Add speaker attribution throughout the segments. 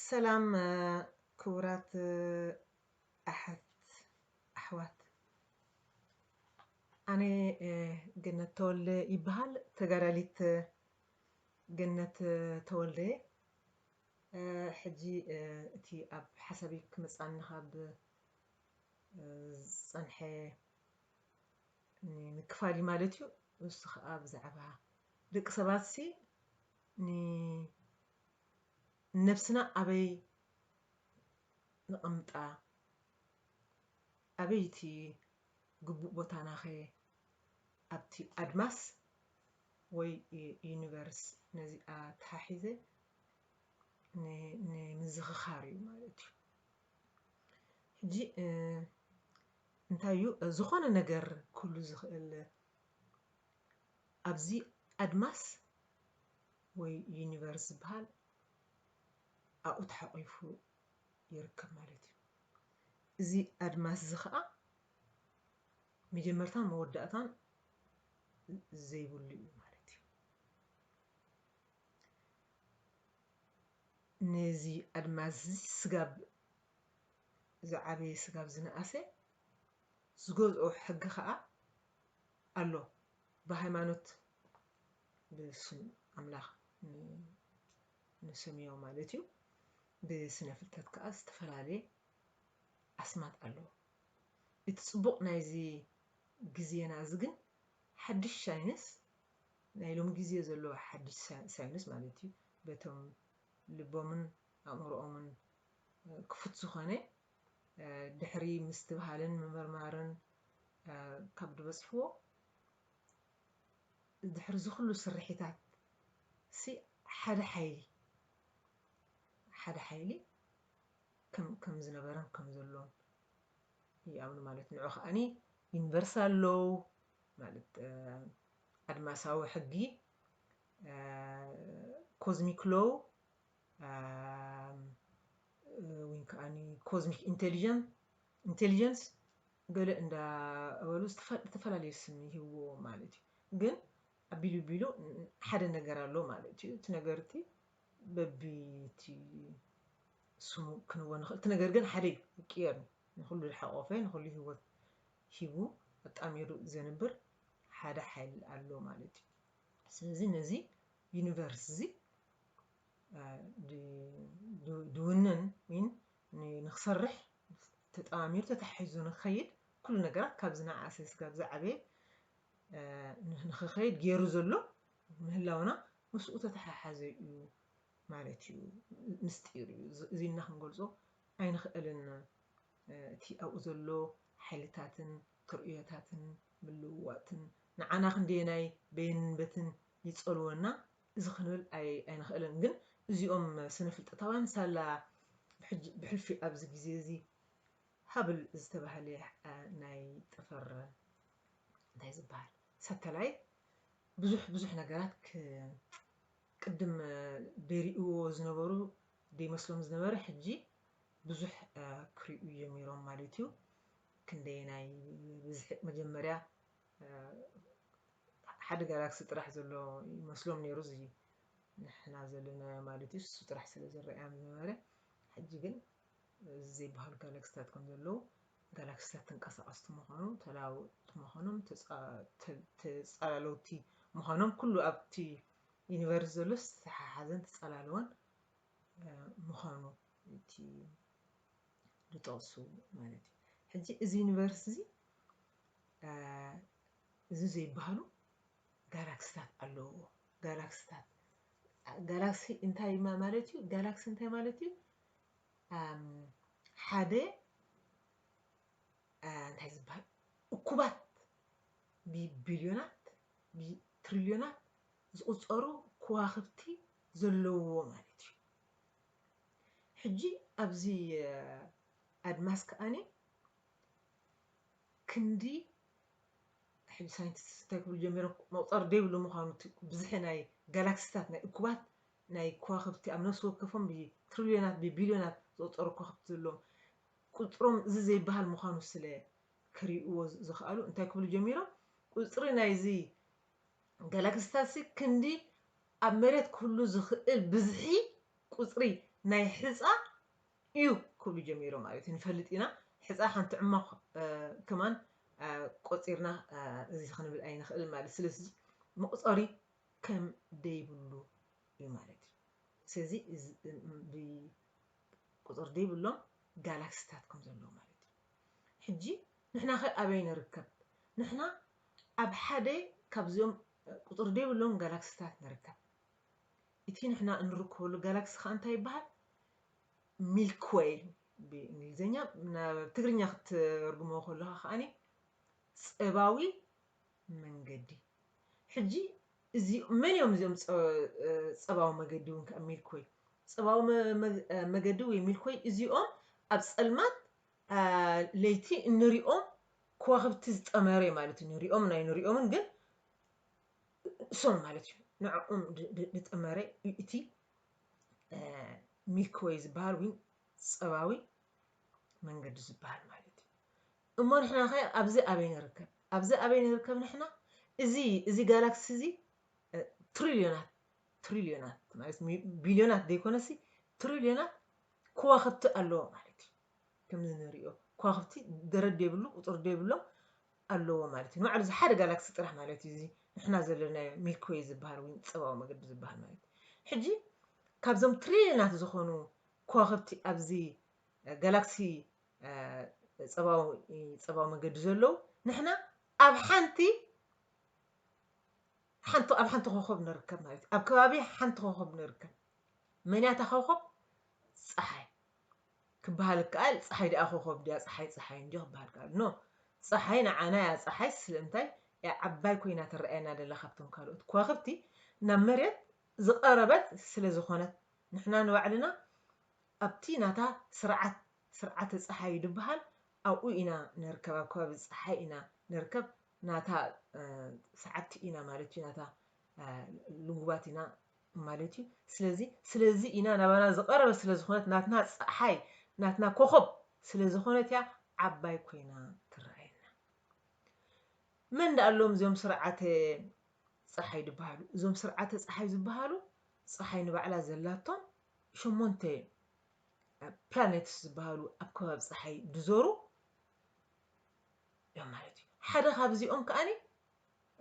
Speaker 1: ሰላም ክቡራት ኣሐት ኣሕዋት ኣነ ገነት ተወልደ ይበሃል ተጋዳሊት ገነት ተወልደ ሕጂ እቲ ኣብ ሓሳቢ ክመፅኣኒ ካብ ዝፀንሐ ንምክፋል እዩ ማለት እዩ እሱ ከዓ ብዛዕባ ደቂ ሰባት ሲ ንነብስና ኣበይ ንቕምጣ ኣበይ እቲ ግቡእ ቦታናኸ ኣብቲ ኣድማስ ወይ ዩኒቨርስ ነዚ ኣተሓሒዘ ንምዝኽኻር እዩ ማለት እዩ ሕጂ እንታይ እዩ ዝኾነ ነገር ክህሉ ዝኽእል ኣብዚ ኣድማስ ወይ ዩኒቨርስ ዝበሃል ኣብኡ ተሓቚፉ ይርከብ ማለት እዩ። እዚ ኣድማስ እዚ ኸኣ መጀመርታን መወዳእታን ዘይብሉ እዩ ማለት እዩ። ነዚ ኣድማስ እዚ ስጋብ ዝዓበየ ስጋብ ዝነኣሰ ዝገዝኦ ሕጊ ከኣ ኣሎ ብሃይማኖት ብስም ኣምላኽ ንሰምዮ ማለት እዩ ብስነ ፍልጠት ከኣ ዝተፈላለየ ኣስማት ኣሎ እቲ ጽቡቕ ናይዚ ግዜና እዚ ግን ሓድሽ ሳይንስ ናይ ሎም ግዜ ዘሎ ሓድሽ ሳይንስ ማለት እዩ በቶም ልቦምን ኣእምሮኦምን ክፉት ዝኾነ ድሕሪ ምስትብሃልን ምምርማርን ካብ ድበጽሕዎ ድሕሪ እዚ ኩሉ ስርሒታት ሲ ሓደ ሓይሊ ሓደ ሓይሊ ከም ከም ዝነበረን ከም ዘሎን ይኣምኑ ማለት ንዑ ከኣኒ ዩኒቨርሳል ሎው ማለት ኣድማሳዊ ሕጊ ኮዝሚክ ሎው ወይን ከኣኒ ኮዝሚክ ኢንተሊጀንስ ገለ እንዳበሉ ዝተፈላለየ ስም ይህብዎ ማለት እዩ ግን ኣቢሉ ቢሉ ሓደ ነገር ኣሎ ማለት እዩ እቲ ነገር እቲ በቢቲ ስሙ ክንዎ ንኽእል እቲ ነገር ግን ሓደ ይቅየር ንኩሉ ዝሓቆፈ ንኩሉ ህይወት ሂቡ ኣጣሚሩ ዘንብር ሓደ ሓይል ኣሎ ማለት እዩ ስለዚ ነዚ ዩኒቨርስ እዚ ድውንን ወይ ንክሰርሕ ተጠማሚሩ ተታሒዙ ንክኸይድ ኩሉ ነገራት ካብ ዝነኣኣሰ ስጋብ ዝዓበየ ንክኸይድ ገይሩ ዘሎ ምህላውና ምስኡ ተተሓሓዘ እዩ ማለት እዩ ምስጢር እዩ እዚ ኢልና ክንገልጾ ኣይንኽእልን እቲ ኣብኡ ዘሎ ሓይልታትን ትርእዮታትን ምልውዋጥትን ንዓና ክንደየናይ በየንን በትን ይጸልወና እዚ ክንብል ኣይንኽእልን ግን እዚኦም ስነፍልጠታውያን ሳላ ብሕልፊ ኣብዚ ግዜ እዚ ሃብል ዝተባህለ ናይ ጠፈር እንታይ ዝበሃል ሳተላይ ብዙሕ ብዙሕ ነገራት ቅድም ደሪእዎ ዝነበሩ ደይመስሎም ዝነበረ ሕጂ ብዙሕ ክሪኡ ጀሚሮም ማለት እዩ ክንደየናይ ብዝሒ መጀመርያ ሓደ ጋላክሲ ጥራሕ ዘሎ ይመስሎም ነይሩ እዚ ንሕና ዘለናዮ ማለት እዩ እሱ ጥራሕ ስለ ዝረኣዮም ዝነበረ ሕጂ ግን እዚ ዘይበሃሉ ጋላክሲታት ከም ዘለዉ ጋላክሲታት ተንቀሳቐስቲ ምዃኑ ተለዋወጥቲ ምዃኖም ተፃላለውቲ ምዃኖም ኩሉ ኣብቲ ዩኒቨርስ ዘሎ ዝተሓሓዘን ተፃላለወን ምዃኑ እቲ ዝጠቕሱ ማለት እዩ። ሕጂ እዚ ዩኒቨርስ እዚ እዚ ዘይበሃሉ ጋላክስታት ኣለውዎ። ጋላክስታት ጋላክሲ እንታይ ማለት እዩ? ጋላክሲ እንታይ ማለት እዩ? ሓደ እንታይ ዝበሃል እኩባት ብቢልዮናት ብትሪልዮናት ዝቑፀሩ ከዋኽብቲ ዘለውዎ ማለት እዩ። ሕጂ ኣብዚ ኣድማስ ከኣኒ ክንዲ ሕጂ ሳይንቲስትስ እንታይ ክብሉ ጀሚሮም መቑፀሪ ዘይብሉ ምዃኑ እቲ ብዝሒ ናይ ጋላክሲታት ናይ እኩባት ናይ ከዋኽብቲ ኣብ ነፍሲ ወከፎም ብትሪልዮናት ብቢልዮናት ዝቑፀሩ ከዋኽብቲ ዘለዎም ቁፅሮም እዚ ዘይበሃል ምዃኑ ስለ ክሪእዎ ዝኸኣሉ እንታይ ክብሉ ጀሚሮም ቁፅሪ ናይዚ ገለ ክስተትሲ ክንዲ ኣብ መሬት ክህሉ ዝኽእል ብዝሒ ቁጽሪ ናይ ሕጻ እዩ ክብሉ ጀሚሮም ማለት እዩ። ንፈልጥ ኢና ሕጻ ሓንቲ ዕማኽ ከማን ቆጺርና እዚ ክንብል ኣይንኽእልን ማለት ስለዚ መቑጸሪ ከም ደይብሉ እዩ ማለት እዩ። ስለዚ ቁጽሪ ደይብሎም ጋላክሲታት ከም ዘለዉ ማለት እዩ። ሕጂ ንሕናኸ ኣበይ ንርከብ? ንሕና ኣብ ሓደ ካብዚኦም ቁጽሪ ዘይብሎም ጋላክሲታት ንርከብ። እቲ ንሕና እንርከበሉ ጋላክሲ ከኣ እንታይ ይበሃል? ሚልክ ዌይ ብእንግሊዝኛ፣ ናብ ትግርኛ ክትርጉሞ ከለኻ ከኣ ጸባዊ መንገዲ። ሕጂ እዚ መን እዮም እዚኦም ጸባዊ መገዲ እውን ከኣ ሚልክ ዌይ ጸባዊ መገዲ ወይ ሚልክ ዌይ እዚኦም ኣብ ጸልማት ለይቲ እንሪኦም ኮዋኽብቲ ዝጠመረ እዩ ማለት እዩ። ንሪኦምን ኣይንሪኦምን ግን እሶም ማለት እዩ ንዕኦም ዝጠመረ እዩ እቲ ሚልክወይ ዝበሃል ወይ ፀባዊ መንገዲ ዝበሃል ማለት እዩ እሞ ንሕና ከ ኣብዚ ኣበይ ንርከብ ኣብዚ ኣበይ ንርከብ ንሕና እዚ እዚ ጋላክሲ እዚ ትሪልዮናት ትሪልዮናት ማለት ቢልዮናት ዘይኮነሲ ትሪልዮናት ከዋኽብቲ ኣለዎ ማለት እዩ ከምዚ ንርእዮ ኳኽብቲ ደረት ደይብሉ ቁጽሪ ደይብሎም ኣለዎ ማለት እዩ ንባዕሉ እዚ ሓደ ጋላክሲ ጥራሕ ማለት እዩ እዚ ንሕና ዘለናዮ ሚልክወይ ዝበሃል ወይ ጸባዊ መገዲ ዝበሃል ማለት እዩ ሕጂ ካብዞም ትሪልዮናት ዝኾኑ ኳኽብቲ ኣብዚ ጋላክሲ ጸባዊ ጸባዊ መገዲ ዘለዉ ንሕና ኣብ ሓንቲ ሓንቲ ኣብ ሓንቲ ኮኸብ ንርከብ ማለት እዩ ኣብ ከባቢ ሓንቲ ኮኸብ ንርከብ መን እያ እታ ኮኸብ ፀሓይ ክበሃል ይከኣል ጸሓይ ደኣ ኮኾብ ድያ ጸሓይ ጸሓይ እንድዩ ክበሃል ይከኣል ን ጸሓይ ንዓና እያ ጸሓይ ስለምንታይ እያ ዓባይ ኮይና ትረኣየና ደላ ካብቶም ካልኦት ኮዋኽብቲ ናብ መሬት ዝቐረበት ስለ ዝኾነት ንሕና ንባዕልና ኣብቲ ናታ ስርዓት ስርዓተ ጸሓይ እዩ ድበሃል ኣብኡ ኢና ንርከብ ኣብ ከባቢ ጸሓይ ኢና ንርከብ ናታ ሰዓብቲ ኢና ማለት እዩ ናታ ልጉባት ኢና ማለት እዩ ስለዚ ስለዚ ኢና ናባና ዝቀረበት ስለ ዝኮነት ናትና ጸሓይ ናትና ኮኾብ ስለ ዝኮነት እያ ዓባይ ኮይና ትረኣየና መን ደኣ ኣሎም እዚኦም ስርዓተ ጸሓይ ዝበሃሉ እዞም ስርዓተ ጸሓይ ዝበሃሉ ጸሓይ ንባዕላ ዘላቶም ሸሞንተ ፕላኔትስ ዝበሃሉ ኣብ ከባቢ ጸሓይ ድዞሩ እዮም ማለት እዩ ሓደ ካብዚኦም ከኣኒ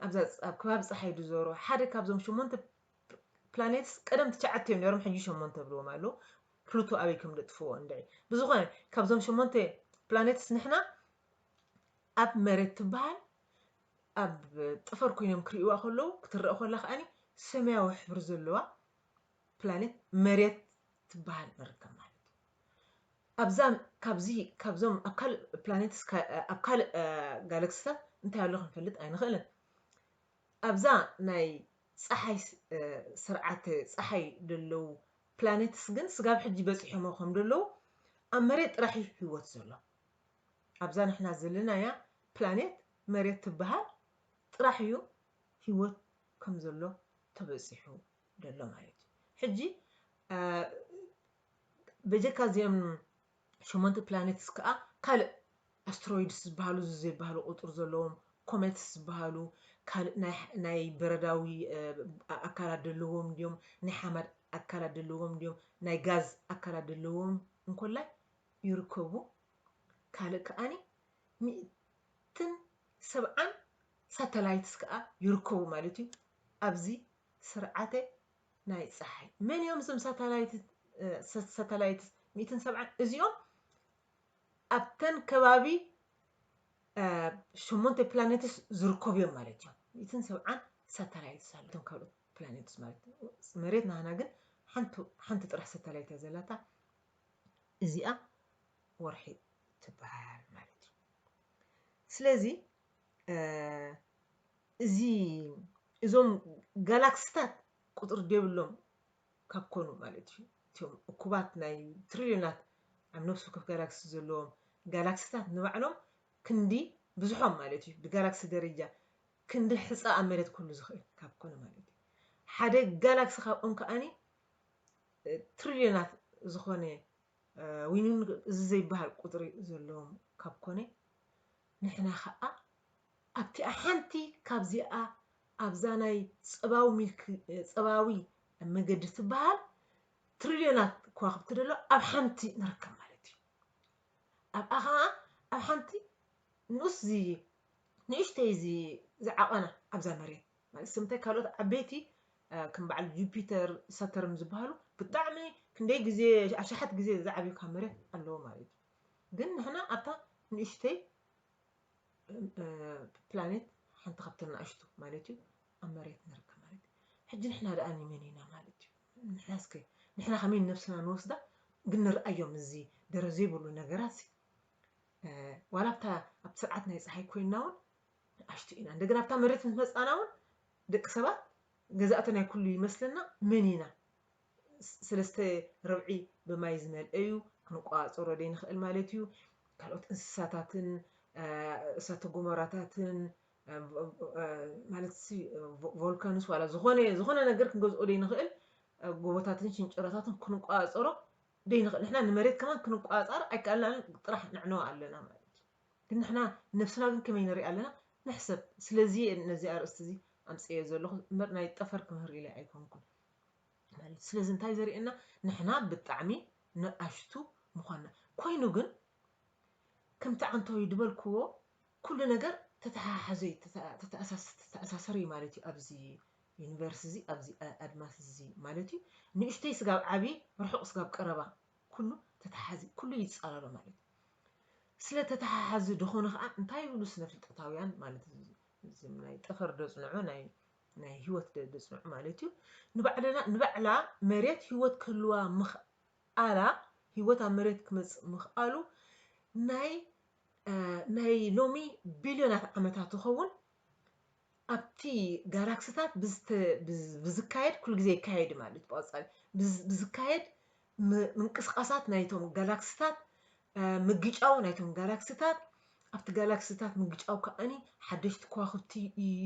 Speaker 1: ኣብዛ ኣብ ከባቢ ጸሓይ ድዞሩ ሓደ ካብዞም ሸሞንተ ፕላኔትስ ቀደም ትሽዓተ እዮም ነይሮም ሕጂ ሸሞንተ ብልዎም ኣለዉ ፕሉቶ ኣበይ ከም ደጥፍዎ እንድዒ ብዝኾነ ካብዞም ሸሞንተ ፕላኔትስ ንሕና ኣብ መሬት ትበሃል ኣብ ጥፈር ኮይኖም ክርእይዋ ከለዉ ክትረአ ከላ ከዓኒ ሰማያዊ ሕብሪ ዘለዋ ፕላኔት መሬት ትበሃል ንርከብ ማለት እዩ ኣብዛ ካብዚ ካብዞም ኣብ ካልእ ፕላኔትስ ኣብ ካልእ ጋለክስታት እንታይ ኣሎ ክንፈልጥ ኣይንኽእልን። ኣብዛ ናይ ጸሓይ ስርዓተ ጸሓይ ደለዉ ፕላኔትስ ግን ስጋብ ሕጂ በጺሖሞ ከም ደለዉ ኣብ መሬት ጥራሕ እዩ ህይወት ዘሎ። ኣብዛ ንሕና ዘለናያ ፕላኔት መሬት ትብሃል ጥራሕ እዩ ህይወት ከም ዘሎ ተበጺሑ ደሎ ማለት እዩ። ሕጂ በጀካ እዚኦም ሸሞንተ ፕላኔትስ ከኣ ካልእ ኣስትሮይድስ ዝበሃሉ እዚ ዘይበሃሉ ቁጽሪ ዘለዎም ኮሜትስ ዝበሃሉ ካልእ ናይ ናይ በረዳዊ ኣካላት ደለዎም ድዮም ናይ ሓመድ ኣካላት ደለዎም ድዮም ናይ ጋዝ ኣካላት ደለዎም እንኮላይ ይርከቡ ካልእ ከኣኒ ሚእትን ሰብዓን ሳተላይትስ ከኣ ይርከቡ ማለት እዩ ኣብዚ ስርዓተ ናይ ፀሓይ መን እዮም እዞም ሳተላይት ሚእትን ሰብዓን እዚኦም ኣብተን ከባቢ ሸሞንተ ፕላኔትስ ዝርከቡ እዮም ማለት እዮም ሚእትን ሰብዓን ሳተላይትስ ኣለቶም ካልኦት ፕላኔትስ ማለት መሬት ናህና ግን ሓንቲ ጥራሕ ሳተላይት እያ ዘላታ እዚኣ ወርሒ ትበሃል ማለት እዩ ስለዚ እዚ እዞም ጋላክሲታት ቁጽሪ ዴብሎም ካብ ኮኑ ማለት እዩ። እቲኦም እኩባት ናይ ትሪልዮናት ኣብ ነፍሲ ወከፍ ጋላክሲ ዘለዎም ጋላክሲታት ንባዕሎም ክንዲ ብዝሖም ማለት እዩ ብጋላክሲ ደረጃ ክንዲ ሕጻ ኣብ መሬት ክህሉ ዝኽእል ካብ ኮነ ማለት እዩ። ሓደ ጋላክሲ ካብኦም ከኣኒ ትሪልዮናት ዝኾነ ዊንውን እዚ ዘይበሃል ቁጽሪ ዘለዎም ካብ ኮነ ንሕና ከኣ ኣብቲኣ ሓንቲ ካብዚኣ ኣብዛ ናይ ጸባዊ ሚልክ ጸባዊ መገዲ ትበሃል ትሪልዮናት ከዋኽብቲ ደሎ ኣብ ሓንቲ ንርከብ ማለት እዩ ኣብኣ ከኣ ኣብ ሓንቲ ንኡስ ዚ ንእሽተይ እዚ ዝዓቐና ኣብዛ መሬት ማለት ስምታይ ካልኦት ዓበይቲ ከም በዓል ጁፒተር ሰተርን ዝበሃሉ ብጣዕሚ ክንደይ ግዜ ኣሽሓት ግዜ ዝዓብዩ ካብ መሬት ኣለዎ ማለት እዩ ግን ንሕና ኣብታ ንእሽተይ ፕላኔት ሓንቲ ካብተን ንኣሽቱ ማለት እዩ ኣብ መሬት ንርከብ ማለት እዩ ሕጂ ንሕና ደኣ ንመን ኢና ማለት እዩ ንሕና እስከ ንሕና ከመይ ነብስና ንወስዳ ግን ንርኣዮም እዚ ደረ ዘይብሉ ነገራት ዋላ ኣብታ ኣብ ስርዓት ናይ ፀሓይ ኮይና እውን ንኣሽቱ ኢና እንደገና ኣብታ መሬት ምስ መፃና እውን ደቂ ሰባት ገዛእቲ ናይ ኩሉ ይመስለና መን ኢና ሰለስተ ርብዒ ብማይ ዝመልኤ እዩ፣ ክንቆጻጸሮ ዘይንኽእል ማለት እዩ። ካልኦት እንስሳታትን እሳተ ጎመራታትን ማለት ቮልካንስ ዋላ ዝኾነ ዝኾነ ነገር ክንገዝኦ ዘይንኽእል ጎቦታትን ሽንጭሮታትን ክንቆጻጸሮ ዘይንኽእል ንሕና ንመሬት ከማን ክንቆጻጸር ኣይከኣልናን ጥራሕ ንዕነው ኣለና ማለት ግን ንሕና ነብስና ግን ከመይ ንርኢ ኣለና ንሕሰብ ስለዚ ነዚ ኣርእስቲ እዚ ኣምፅኤ ዘለኹ እምበር ናይ ጠፈር ክምህር ኢለ ኣይኮንኩን ማለት ስለዚ እንታይ ዘርእየና ንሕና ብጣዕሚ ንኣሽቱ ምዃንና ኮይኑ ግን ከምቲ ዓንተወይ ድበልክዎ ኩሉ ነገር ተተሓሓዘ እዩ ተተኣሳሰረ እዩ ማለት እዩ ኣብዚ ዩኒቨርስ እዚ ኣብዚ ኣድማስ እዚ ማለት እዩ ንእሽተይ ስጋብ ዓብዪ ርሑቕ ስጋብ ቀረባ ኩሉ ተተሓሓዚ ኩሉ ይፃለሎ ማለት እዩ ስለ ተተሓሓዚ ድኾነ ከዓ እንታይ ይብሉ ስነ ፍልጠታውያን ማለት እዚ ናይ ጠፈር ደፅንዑ ናይ ናይ ህይወት ደርቢ ጽኑዕ ማለት እዩ። ንባዕልና ንባዕላ መሬት ህይወት ክህልዋ ምኽኣላ ህይወት ኣብ መሬት ክመጽእ ምኽኣሉ ናይ ናይ ሎሚ ቢልዮናት ዓመታት ይኸውን ኣብቲ ጋላክሲታት ብዝካየድ ኩሉ ግዜ ይካየድ ማለት ብቐጻሊ ብዝካየድ ምንቅስቓሳት ናይቶም ጋላክሲታት ምግጫው ናይቶም ጋላክሲታት ኣብቲ ጋላክሲታት ምግጫው ከዓኒ ሓደሽቲ ከዋኽብቲ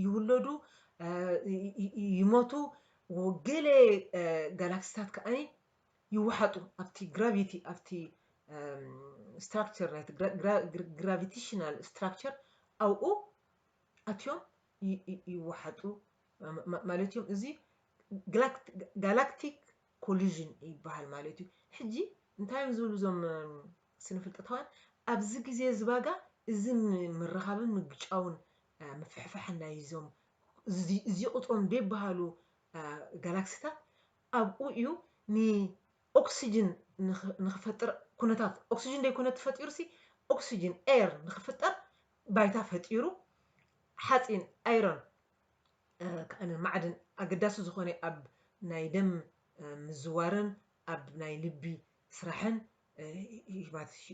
Speaker 1: ይውለዱ ይሞቱ ገለ ጋላክሲታት ከዓኒ ይወሓጡ ኣብቲ ግራቪቲ ኣብቲ ስትራክቸር ናይቲ ግራቪቴሽናል ስትራክቸር ኣብኡ ኣትዮም ይወሓጡ ማለት እዮም እዚ ጋላክቲክ Collusion ይበሃል ማለት እዩ። ሕጂ እንታይ እዮም ዝብሉ እዞም ስነፍልጠታውያን ኣብዚ ግዜ እዚ ባጋ እዚ ምርኻብን ምግጫውን ምፍሕፋሕን ናይ እዞም እዚ ቁጽሮም ደይበሃሉ ጋላክሲታት ኣብኡ እዩ ንኦክስጅን ንክፈጥር ኩነታት ኦክስጅን ደይኮነ ተፈጢሩሲ ኦክስጅን ኤር ንክፍጠር ባይታ ፈጢሩ ሓጺን ኣይሮን ከኣነ ማዕድን ኣገዳሲ ዝኾነ ኣብ ናይ ደም ምዝዋርን ኣብ ናይ ልቢ ስራሕን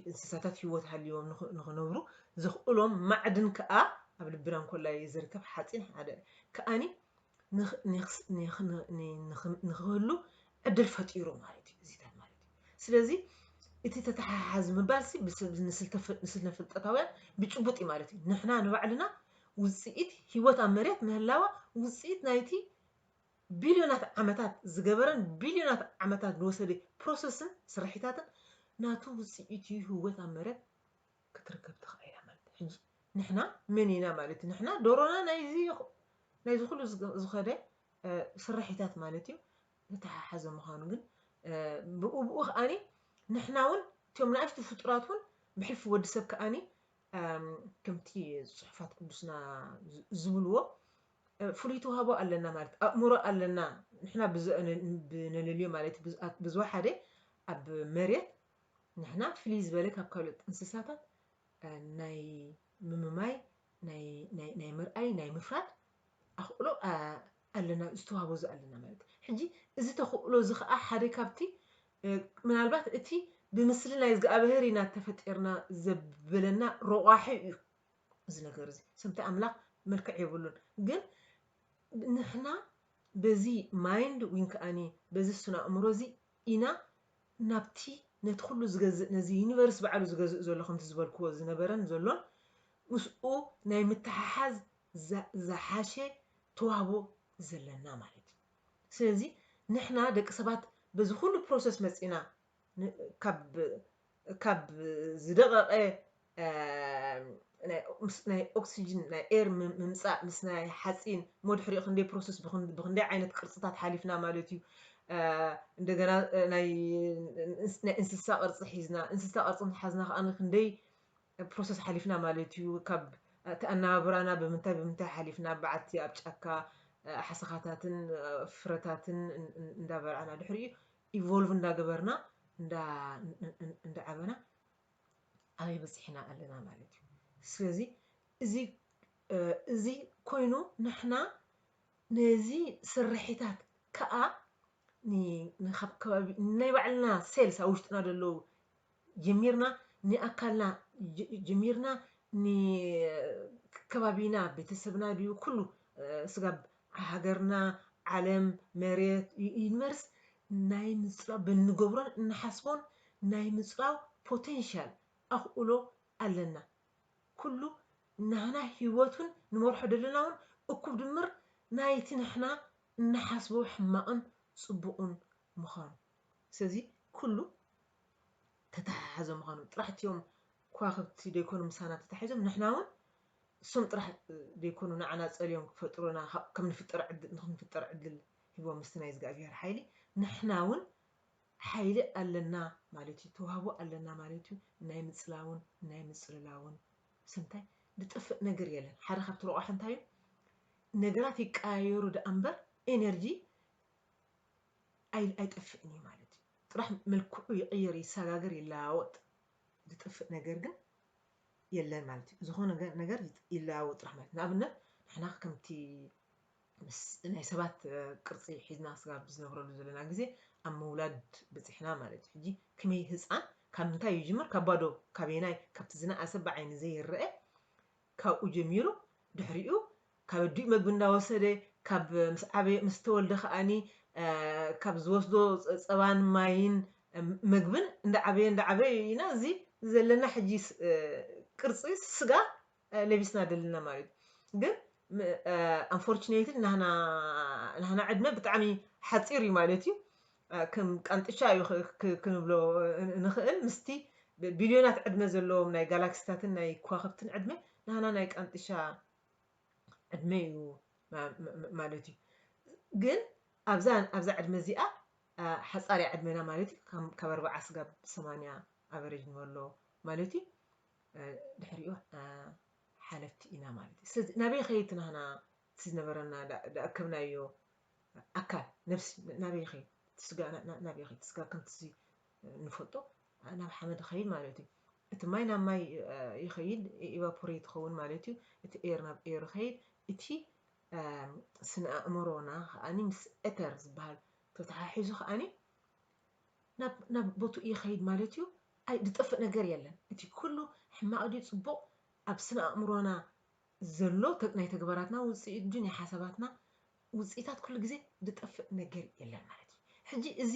Speaker 1: እንስሳታት ህይወት ሃልይዎም ንኽነብሩ ዘኽእሎም ማዕድን ከኣ ኣብ ልቢ ዳንኮላ እዩ ዝርከብ ሓፂን ሓደ ከኣኒ ንኽህሉ ዕድል ፈጢሩ ማለት እዩ እዚታት ማለት እዩ ስለዚ እቲ ተተሓሓዝ ምባልሲ ንስልነ ፍልጠታውያን ብጭቡጥ እዩ ማለት እዩ ንሕና ንባዕልና ውጽኢት ህይወት ኣብ መሬት ምህላዋ ውጽኢት ናይቲ ቢልዮናት ዓመታት ዝገበረን ቢልዮናት ዓመታት ዝወሰደ ፕሮሰስን ስርሒታትን ናቱ ውጽኢት እዩ ህይወት ኣብ መሬት ክትርከብ ተኻኢላ። ሕጂ ንሕና መን ኢና ማለት እዩ ንሕና ዶሮና ናይዚ ናይዚ ኩሉ ዝኸደ ስራሒታት ማለት እዩ ዝተሓሓዘ ምዃኑ ግን ብኡ ብኡ ከዓኒ ንሕና እውን እቶም ንኣሽቱ ፍጡራት እውን ብሕልፊ ወዲ ሰብ ከዓኒ ከምቲ ጽሑፋት ቅዱስና ዝብልዎ ፍሉይ ተዋህቦ ኣለና ማለት ኣእምሮ ኣለና ንሕና ብነለልዮ ማለት ብዝወሓደ ኣብ መሬት ንሕና ፍልይ ዝበለ ካብ ካልኦት እንስሳታት ናይ ምምማይ ናይ ምርኣይ ናይ ምፍራድ ኣኽእሎ ኣለና ዝተዋህቦ እዚ ኣለና ማለት እዩ። ሕጂ እዚ ተኽእሎ እዚ ኸኣ ሓደ ካብቲ ምናልባት እቲ ብምስሊ ናይ እዝግኣብሄር ኢና ተፈጢርና ዘብለና ረቋሒ እዩ እዚ ነገር እዚ ስምቲ ኣምላኽ መልክዕ የብሉን ግን ንሕና በዚ ማይንድ ዊን ከኣኒ በዚ ስነ ኣእምሮ እዚ ኢና ናብቲ ነቲ ኩሉ ዝገዝእ ነዚ ዩኒቨርስ ባዕሉ ዝገዝእ ዘሎ ከምቲ ዝበልክዎ ዝነበረን ዘሎን ምስኡ ናይ ምትሓሓዝ ዝሓሸ ተዋህቦ ዘለና ማለት እዩ ስለዚ ንሕና ደቂ ሰባት በዚ ኩሉ ፕሮሰስ መጺና ካብ ካብ ዝደቐቐ ናይ ኦክሲጅን ናይ ኤር ምምፃእ ምስ ናይ ሓፂን እሞ ድሕሪኡ ክንደይ ፕሮሰስ ብክንደይ ዓይነት ቅርፅታት ሓሊፍና ማለት እዩ እንደገና ናይ እንስሳ ቅርፂ ሒዝና እንስሳ ቅርፂ ሓዝና ከዓ ክንደይ ፕሮሰስ ሓሊፍና ማለት እዩ ካብ እቲ ኣነባብራና ብምንታይ ብምንታይ ሓሊፍና በዓቲ ኣብ ጫካ ሓሰኻታትን ፍረታትን እንዳበላዕና ድሕሪኡ ኢቮልቭ እንዳገበርና እንዳዓበና ኣበይ በፂሕና ኣለና ማለት እዩ ስለዚ እዚ እዚ ኮይኑ ንሕና ነዚ ስርሒታት ከዓ ንካብ ከባቢ ናይ ባዕልና ሴልስ ኣብ ውሽጥና ዘለዉ ጀሚርና ንኣካልና ጀሚርና ንከባቢና ቤተሰብና ድዩ ኩሉ ስጋብ ሃገርና ዓለም መሬት ዩኒቨርስ ናይ ምፅላው ብእንገብሮን እንሓስቦን ናይ ምፅላው ፖቴንሻል ኣኽእሎ ኣለና ኩሉ ናህና ሂወት ውን ንመርሖ ደለና ውን እኩብ ድምር ናይቲ ንሕና እንሓስቦ ሕማቕን ፅቡቕን ምዃኑ ስለዚ ኩሉ ተተሓሓዘ ምዃኑ ጥራሕ እትዮም ክዋክብቲ ደይኮኑ ምሳና ተታሒዞም ንሕና ውን እሶም ጥራሕ ደይኮኑ ንዓና ጸልዮም ክፈጥሩና ከም ንፍጠር ዕድል ንክንፍጠር ዕድል ሂቦም ምስቲ ናይ እዝጋኣብሄር ሓይሊ ንሕና ውን ሓይሊ ኣለና ማለት እዩ ተዋህቦ ኣለና ማለት እዩ ናይ ምጽላውን ናይ ምጽልላውን ስንታይ ድጥፍእ ነገር የለን ሓደ ካብቲ ረቋሒ እንታይ እዩ ነገራት ይቀያየሩ ደኣ እምበር ኤነርጂ ኣይጠፍእን እዩ ማለት እዩ ጥራሕ መልክዑ ይቕይር ይሰጋገር ይለዋወጥ ዝጥፍእ ነገር ግን የለን ማለት እዩ ዝኾነ ነገር ይለዋወጥ ጥራሕ ማለት ንኣብነት ንሕና ከምቲ ምስ ናይ ሰባት ቅርፂ ሒዝና ስጋብ ዝነብረሉ ዘለና ግዜ ኣብ ምውላድ በፂሕና ማለት እዩ ሕጂ ከመይ ህፃን ካብ ምንታይ ይጅምር ካብ ባዶ ካበየናይ ካብቲ ዝነኣሰ ብዓይኒ ዘይረኣ ካብኡ ጀሚሩ ድሕሪኡ ካብ ኣዲኡ መግቢ እንዳወሰደ ካብ ምስ ዓበየ ምስ ተወልደ ከኣኒ ካብ ዝወስዶ ጸባን ማይን መግብን እንዳዓበየ እንዳዓበየ ኢና እዚ ዘለና ሕጂ ቅርጺ ስጋ ለቢስና ደለና ማለት እዩ ግን ኣንፎርችነትሊ ናህና ናህና ዕድመ ብጣዕሚ ሓጺር እዩ ማለት እዩ ከም ቃንጥቻ እዩ ክንብሎ እንኽእል። ምስቲ ብቢልዮናት ዕድመ ዘለዎም ናይ ጋላክሲታትን ናይ ክዋኽብትን ዕድመ፣ ናህና ናይ ቃንጥሻ ዕድመ እዩ ማለት እዩ። ግን ኣብዛ ኣብዛ ዕድመ እዚኣ ሓጻር እያ ዕድመና ማለት እዩ። ከም ካብ ኣርብዓ ስጋብ ሰማንያ ኣቨሬጅ ንበሎ ማለት እዩ። ድሕሪኡ ሓለፍቲ ኢና ማለት እዩ። ስለዚ ናበይ ይኸይድ እቲ ናህና እቲ ዝነበረና ደኣከብናዮ ኣካል ነብሲ ናበይ ይኸይድ እቲ ስጋ ናበይ ይኸይድ እቲ ስጋ ከምቲ ንፈልጦ ናብ ሓመድ ይኸይድ ማለት እዩ እቲ ማይ ናብ ማይ ይኸይድ ኢቫፖሬት ይኸውን ማለት እዩ እቲ ኤር ናብ ኤር ይኸይድ እቲ ስነ ኣእምሮና ከዓኒ ምስ ኤተር ዝበሃል ተተሓሒዙ ከዓኒ ናብ ቦትኡ ይኸይድ ማለት እዩ ኣይ ዝጠፍእ ነገር የለን እቲ ኩሉ ሕማቕ ድዩ ጽቡቕ ኣብ ስነ ኣእምሮና ዘሎ ናይ ተግባራትና ውጽኢት እንጂ ናይ ሓሳባትና ውጽኢታት ኩሉ ግዜ ዝጠፍእ ነገር የለን ማለት እዩ። ሕጂ እዚ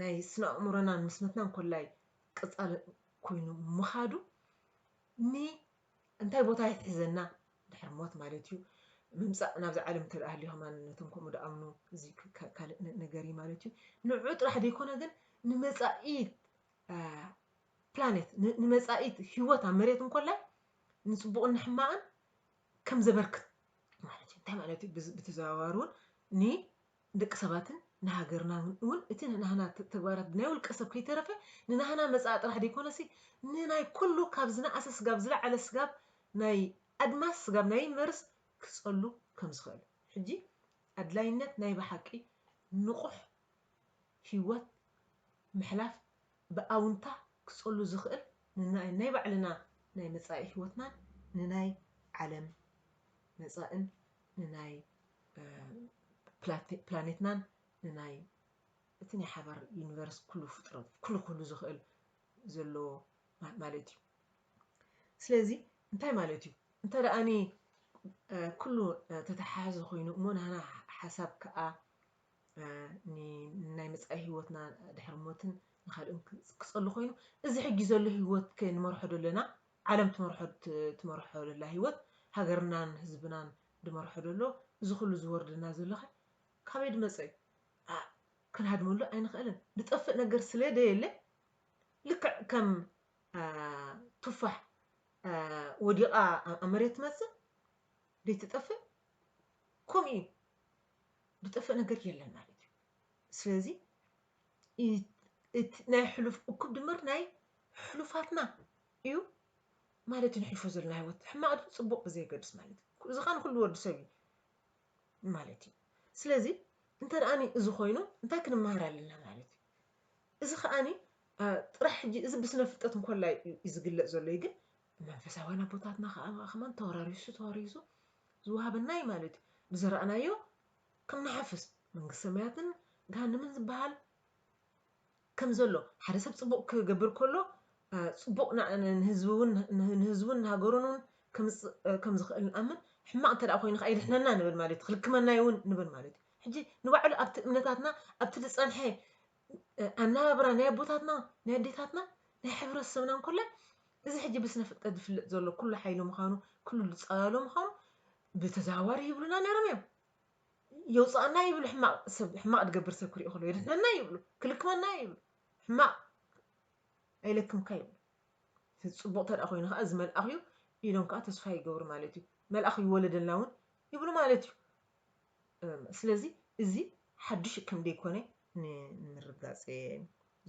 Speaker 1: ናይ ስነ-ኣእምሮናን ምስመትናን ኮላይ ቀጻሊ ኮይኑ ምኻዱ ን እንታይ ቦታ ይሕዘና ድሕሪ ሞት ማለት እዩ ምምጻእ ናብዚ ዓለም እንተ ሃልዩ ከማን ነቶም ከምኡ ድኣምኑ እዚ ካልእ ነገር እዩ ማለት እዩ ንዑ ጥራሕ ዘይኮነ ግን ንመጻኢት ፕላኔት ንመጻኢ ህይወት ኣብ መሬት እንኮላይ ንጽቡቕን ንሕማቕን ከም ዘበርክት ማለት እዩ። እንታይ ማለት እዩ? ብተዘዋዋሪ እውን ንደቂ ሰባትን ንሃገርና እውን እቲ ንናህና ተግባራት ናይ ውልቀ ሰብ ከይተረፈ ንናህና መጻኢ ጥራሕ ዘይኮነሲ ንናይ ኩሉ ካብ ዝነኣሰ ስጋብ ዝለዓለ ስጋብ ናይ ኣድማስ ስጋብ ናይ ዩኒቨርስ ክጸሉ ከም ዝኽእል ሕጂ ኣድላይነት ናይ ብሓቂ ንቑሕ ህይወት ምሕላፍ ብኣውንታ ክጸሉ ዝኽእል ንናይ ናይ ባዕልና ናይ መጻኢ ሕይወትናን ንናይ ዓለም መጻእን ንናይ ፕላኔትናን ንናይ እቲ ናይ ሓባር ዩኒቨርስ ኩሉ ፍጥረት ኩሉ ክህሉ ዝኽእል ዘለዎ ማለት እዩ ስለዚ እንታይ ማለት እዩ እንተ ደኣኒ ኩሉ ተተሓሕዘ ኮይኑ እሞ ናህና ሓሳብ ከኣ ንናይ መጻኢ ህይወትና ድሕሪ ሞትን ንኻልእን ክጸሉ ኮይኑ እዚ ሕጂ ዘሎ ህይወት ከ ንመርሖ ደለና ዓለም ትመርሖ ትመርሖ ደላ ህይወት ሃገርናን ህዝብናን ድመርሖ ደሎ እዚ ኩሉ ዝወርደና ዘሎኸ ካበይ ድመጸ እዩ ክንሃድመሉ ኣይንኽእልን ድጠፍእ ነገር ስለ ደየለ ልክዕ ከም ቱፋሕ ወዲቓ ኣብ መሬት ትመጽእ ደይትጠፍእ ከምኡ እዩ ዝጠፍእ ነገር የለን ማለት እዩ ስለዚ እቲ ናይ ሕሉፍ እኩብ ድምር ናይ ሕሉፋትና እዩ ማለት እዩ ንሕልፎ ዘለና ህይወት ሕማቕ ድዩ ፅቡቕ ብዘየገድስ ማለት እዩ እዚ ከዓ ንኩሉ ወዲ ሰብ እዩ ማለት እዩ ስለዚ እንተ ደኣኒ እዚ ኮይኑ እንታይ ክንመሃር ኣለና ማለት እዩ እዚ ከዓኒ ጥራሕ ሕጂ እዚ ብስነ ፍልጠት እንኮላይ እዩ ዝግለፅ ዘሎ እዩ ግን ብመንፈሳውያን ኣቦታትና ከኣ ከማን ተወራሪሱ ተወሪሱ ዝወሃበና እዩ ማለት እዩ። ብዘራእናዮ ክንሓፍስ መንግስቲ ሰማያትን ገሃንምን ዝበሃል ከም ዘሎ ሓደ ሰብ ጽቡቕ ክገብር ከሎ ጽቡቕ ንህዝቡን ንሃገሩን እውን ከም ዝኽእል ንኣምን ሕማቕ እንተ ኮይኑ ከዓ ይድሕነና ንብል ማለት እዩ ክልክመና ይውን ንብል ማለት እዩ ሕጂ ንባዕሉ ኣብቲ እምነታትና ኣብቲ ዝጸንሐ ኣነባብራ ናይ ኣቦታትና ናይ ኣዴታትና ናይ ሕብረተሰብና እንኮላይ እዚ ሕጂ ብስነ ፍልጠት ዝፍለጥ ዘሎ ኩሉ ሓይሊ ምዃኑ ኩሉ ዝፀላሎ ምዃኑ ብተዘዋዋሪ ይብሉና ነይሮም እዮም የውፅኣና ይብሉ ሕማቕ ሰብ ሕማቕ ዝገብር ሰብ ክሪኦ ከሎ የድሕነና ይብሉ ክልክመና ይብሉ ሕማቕ ኣይለክምካ ይብሉ ፅቡቕ ተደኣ ኮይኑ ከዓ እዚ መልኣኽ እዩ ኢሎም ከዓ ተስፋ ይገብሩ ማለት እዩ መልኣኽ ይወለደልና እውን ይብሉ ማለት እዩ ስለዚ እዚ ሓዱሽ ከም ደይኮነ ንምርግጋጽ እየ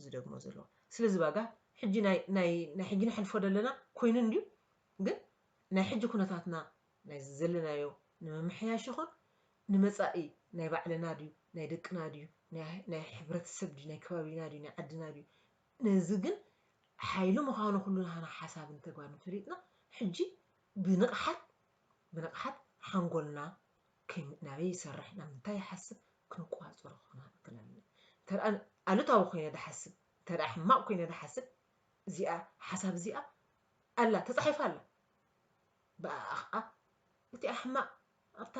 Speaker 1: ዝደግሞ ዘለኹ። ስለዚ ባጋ ሕጂ ናይ ናይ ናይ ሕጂ ነሕልፎ ደለና ኮይኑ እንድዩ ግን ናይ ሕጂ ኩነታትና ናይዚ ዘለናዮ ንምምሕያሽ ይኹን ንመጻኢ ናይ ባዕልና ድዩ ናይ ደቅና ድዩ ናይ ናይ ሕብረተሰብ ድዩ ናይ ከባቢና ድዩ ናይ ዓድና ድዩ ነዚ ግን ሓይሊ ምዃኑ ኩሉ ናህና ሓሳብን ተግባርን ፈሊጥና ሕጂ ብንቕሓት ብንቕሓት ሓንጎልና ከይ ናበይ ይሰርሕ ናብ ምንታይ ይሓስብ ክንቆጻጸሮ ክንክእል ኣለና። እንተ ኣሉታዊ ኮይነ ዝሓስብ እንተ ሕማቕ ኮይነ ዝሓስብ እዚኣ ሓሳብ እዚኣ ኣላ ተጻሒፋ ኣላ ብኣኣ ኸኣ እቲ ኣሕማቕ ኣብታ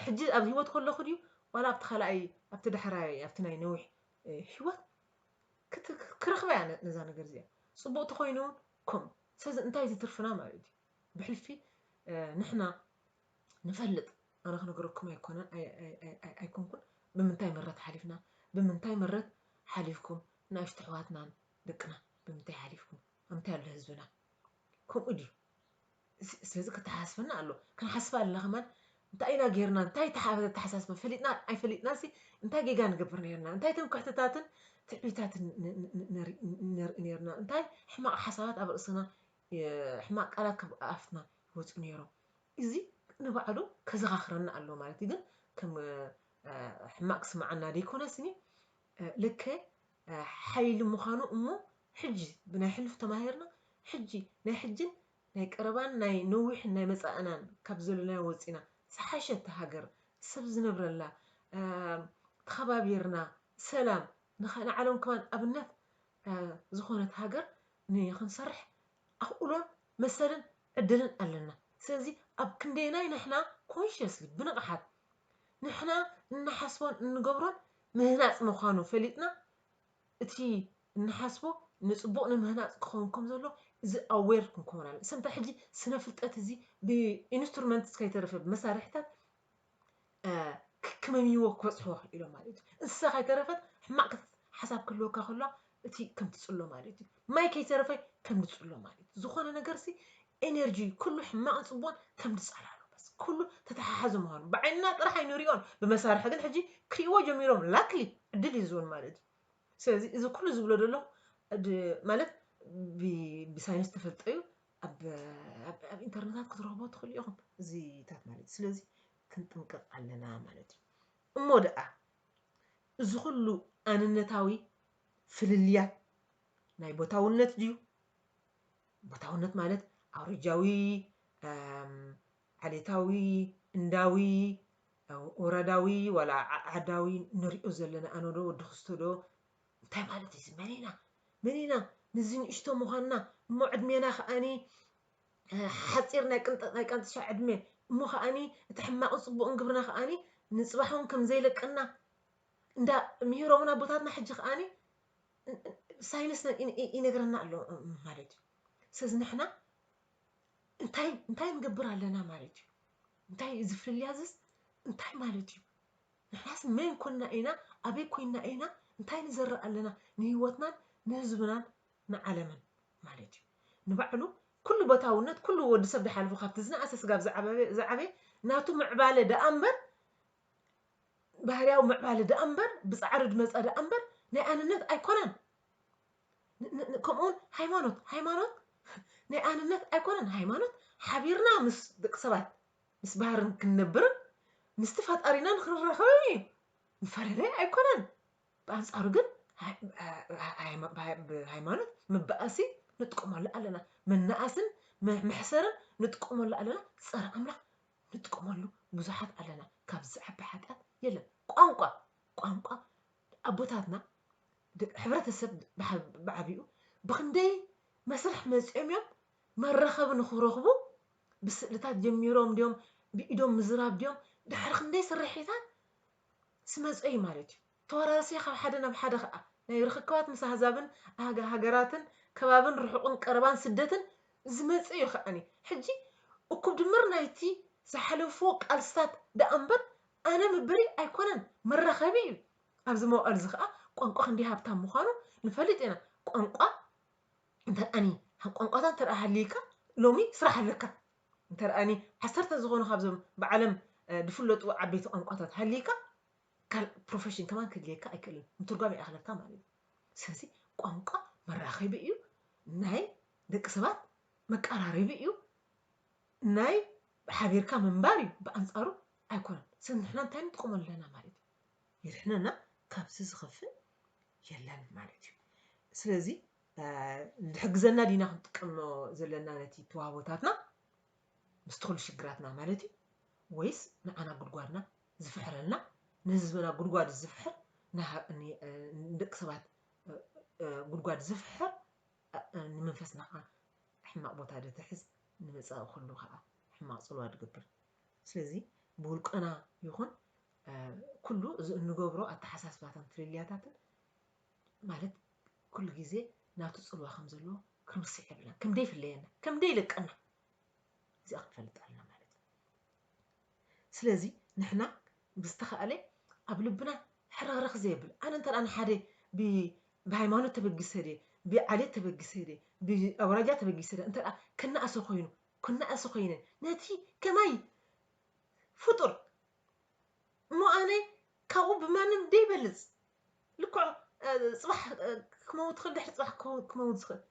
Speaker 1: ሕጂ ኣብ ህይወት ከለኹ ድዩ ዋላ ኣብቲ ካልኣይ ኣብቲ ዳሕራይ ኣብቲ ናይ ነዊሕ ህይወት ክረኽባ እያ ነዛ ነገር እዚኣ ጽቡቕ ተኮይኑ ከምኡ ስለዚ እንታይ እዚ ትርፍና ማለት እዩ ብሕልፊ ንሕና ንፈልጥ ኣነ ክነገረኩም ኣይኮነን ኣይኮንኩን ብምንታይ መረት ሓሊፍና ብምንታይ መረት ሓሊፍኩም ንኣሽቱ ኣሕዋትናን ደቅና ብምንታይ ሓሊፍኩም ኣምታይ ኣሎ ህዝብና ከምኡ ድዩ ስለዚ ክተሓሳስበና ኣሎ ክንሓስባ ኣለና ከማን እንታይ ኢና ጌርና እንታይ ተሓሳስበ ፈሊጥና ኣይፈሊጥና ሲ እንታይ ጌጋ ንገብር ነርና እንታይ ትምክሕትታትን ትዕቢታትን ነርኢ ነርና እንታይ ሕማቕ ሓሳባት ኣብ ርእስና ሕማቅ ቃላት ካብ ኣፍና ይወጹ ኔሮም እዚ ንባዕሉ ከዘካክረና ኣለዎ ማለት ግን ከም ሕማቅ ክስምዓና ደይኮነ ስኒ ልከ ሓይሊ ምዃኑ እሞ ሕጂ ብናይ ሕሉፍ ተማሂርና ሕጂ ናይ ሕጂን ናይ ቀረባን ናይ ነዊሕን ናይ መጻእናን ካብ ዘሎናዮ ወጺና ዝሓሸት ሃገር ሰብ ዝነብረላ ተኸባቢርና ሰላም ንዓሎም ከማን ኣብነት ዝኾነት ሃገር ንክንሰርሕ ኣኽእሎን መሰልን ዕድልን ኣለና። ስለዚ ኣብ ክንደየናይ ንሕና ኮንሸስሊ፣ ብንቕሓት፣ ንሕና እንሓስቦን እንገብሮን ምህናጽ ምዃኑ ፈሊጥና እቲ እንሓስቦ ንጽቡቕ ንምህናጽ ክኸውን ከም ዘሎ እዚ ኣዌር ክንከውን ኣለና። እሰንታ ሕጂ ስነ ፍልጠት እዚ ብኢንስትሩመንትስ ከይተረፈ ብመሳርሒታት ክክመምዎ ክበፅሖ ኢሎ ማለት እዩ እንስሳ ከይተረፈት ሕማቅ ሓሳብ ክህልወካ ከሎ እቲ ከም ትፅሎ ማለት እዩ ማይ ከይተረፈ ከም ንፅሎ ማለት እዩ ዝኾነ ነገር ሲ ኤነርጂ ኩሉ ሕማቅን ፅቡቅን ከም ንፃላሎ በስ ኩሉ ተተሓሓዘ ምዃኑ ብዓይንና ጥራሕ ኣይንሪኦን ብመሳርሒ ግን ሕጂ ክሪእዎ ጀሚሮም ላክሊ ዕድል እዩ ዝውን ማለት እዩ ስለዚ እዚ ኩሉ ዝብሎ ዘለኹ ማለት ብሳይንስ ተፈልጠዩ ኣብ ኣብ ኢንተርነታት ክትረኽቦ ትኽእሉ ኢኹም እዚታት ማለት እዩ ስለዚ ክንጥንቀቕ ኣለና ማለት እዩ እሞ ደኣ እዚ ኩሉ ኣንነታዊ ፍልልያት ናይ ቦታውነት ድዩ ቦታውነት ማለት ኣውረጃዊ ዓሌታዊ እንዳዊ ወረዳዊ ዋላ ዓዳዊ ንሪኦ ዘለና ኣነ ዶ ወዲ ክስቶ ዶ እንታይ ማለት እዩ መን ኢና መን ኢና ንዚ ንእሽቶ ምዃንና እሞ ዕድሜና ከዓኒ ሓፂር ናይ ቅንጠ ናይ ቃንጥሻ ዕድሜ እሞ ከዓኒ እቲ ሕማቕን ፅቡቕን ግብርና ከዓኒ ንፅባሕ እውን ከም ዘይለቀና እንዳ ምሂሮምና ኣቦታትና ሕጂ ከዓኒ ሳይንስ ይነግረና ኣሎ ማለት እዩ ስለዚ ንሕና እንታይ እንታይ ንገብር ኣለና ማለት እዩ እንታይ እዩ ዝፍልልያ ዝስ እንታይ ማለት እዩ ንሕናስ መን ኮና ኢና ኣበይ ኮይና ኢና እንታይ ንዘርእ ኣለና ንሂወትናን ንህዝብናን ንዓለምን ማለት እዩ ንባዕሉ ኩሉ ቦታውነት ኩሉ ወዲ ሰብ ድሓልፉ ካብቲ ዝነኣሰ ስጋብ ዝዓበየ ናቱ ምዕባለ ደኣ እምበር ባህርያዊ ምዕባለ ደኣ እምበር ብጻዕሪ ድመጸ ደኣ እምበር ናይ ኣንነት ኣይኮነን ከምኡውን ሃይማኖት ሃይማኖት ናይ ኣንነት ኣይኮነን ሃይማኖት ሓቢርና ምስ ደቂ ሰባት ምስ ባህርን ክንነብርን ምስቲ ፈጣሪና ንክንራኸብን እዩ። ንፈለለይ ኣይኮነን። ብኣንጻሩ ግን ብሃይማኖት መባኣሲ ንጥቀመሉ ኣለና፣ መናኣስን መሕሰርን ንጥቀመሉ ኣለና፣ ጸረ ኣምላኽ ንጥቀመሉ ብዙሓት ኣለና። ካብ ዝዓቢ ሓጢኣት የለን። ቋንቋ ቋንቋ ኣቦታትና ሕብረተሰብ ብዓቢኡ ብክንደይ መስርሕ መጺኦም እዮም መራኸቢ ንኽረኽቡ ብስእልታት ጀሚሮም ድዮም ብኢዶም ምዝራብ ድዮም ድሕሪ ክንደይ ስርሒታት ስመጸዩ ማለትዩ ተወራርሲ ካብ ሓደ ናብ ሓደ ከኣ ናይ ርኽክባት ምስ ኣህዛብን ኣህጋ ሃገራትን ከባብን ርሑቕን ቀረባን ስደትን ዝመጸ እዩ ከኣኒ ሕጂ እኩብ ድምር ናይቲ ዝሓለፉዎ ቃልስታት ደኣ እምበር ኣነ ምበሊ ኣይኮነን መራኸቢ እዩ ኣብዚ መዋእልዚ ከኣ ቋንቋ ክንደይ ሃብታም ምዃኑ ንፈልጥ ኢና ቋንቋ እንተርኣኒ ካብ ቋንቋታት እንተ ሃልይካ ሎሚ ስራሕ ኣለካ እንተርኣኒ ዓሰርተ ዝኾኑ ካብዞም ብዓለም ዝፍለጡ ዓበይቲ ቋንቋታት ሃልይካ ካል ፕሮፌሽን ከማን ክድልየካ ኣይክእልን ምትርጓም ይኣኽለካ ማለት እዩ ስለዚ ቋንቋ መራኸቢ እዩ ናይ ደቂ ሰባት መቀራረቢ እዩ ናይ ሓቢርካ ምንባር እዩ ብኣንጻሩ ኣይኮነን ሰብ ንሕና እንታይ ንጥቀመሉ ኣለና ማለት እዩ የድሕነና ካብዚ ዝኸፍእ የለን ማለት እዩ ስለዚ ዝሕግዘና ዲና ክንጥቀምኖ ዘለና ነቲ ተዋህቦታትና ምስቲ ኩሉ ሽግራትና ማለት እዩ ወይስ ንዓና ጉድጓድና ዝፍሕረልና ንህዝብና ጉድጓድ ዝፍሕር ንደቂ ሰባት ጉድጓድ ዝፍሕር ንመንፈስና ከዓ ሕማቕ ቦታ ዶ ትሕዝ ንመፃኢ ኩሉ ከዓ ሕማቕ ፅልዋ ዝገብር ስለዚ ብውልቀና ይኹን ኩሉ እዚ እንገብሮ ኣተሓሳስባታን ፍልልያታትን ማለት ኩሉ ግዜ ናቱ ጽልዋ ከም ዘለዎ ክንርስዕ የብልና ከም ደይፍለየና ከም ደይልቀና እዚኣ ክንፈልጥ ኣለና ማለት እዩ ስለዚ ንሕና ብዝተኻእለ ኣብ ልብና ሕርኽርኽ ዘየብል ኣነ እንተ ንሓደ ብሃይማኖት ተበጊሰ ድየ ብዓሌት ተበጊሰ ድየ ብኣውራጃ ተበጊሰ ድየ እንተ ክነኣሰ ኮይኑ ክነኣሰ ኮይነ ነቲ ከማይ ፍጡር እሞ ኣነ ካብኡ ብማንም ደይበልፅ ልክዑ ፅባሕ ክመውት ኽእል ድሕሪ ፅባሕ ክመውት ዝኽእል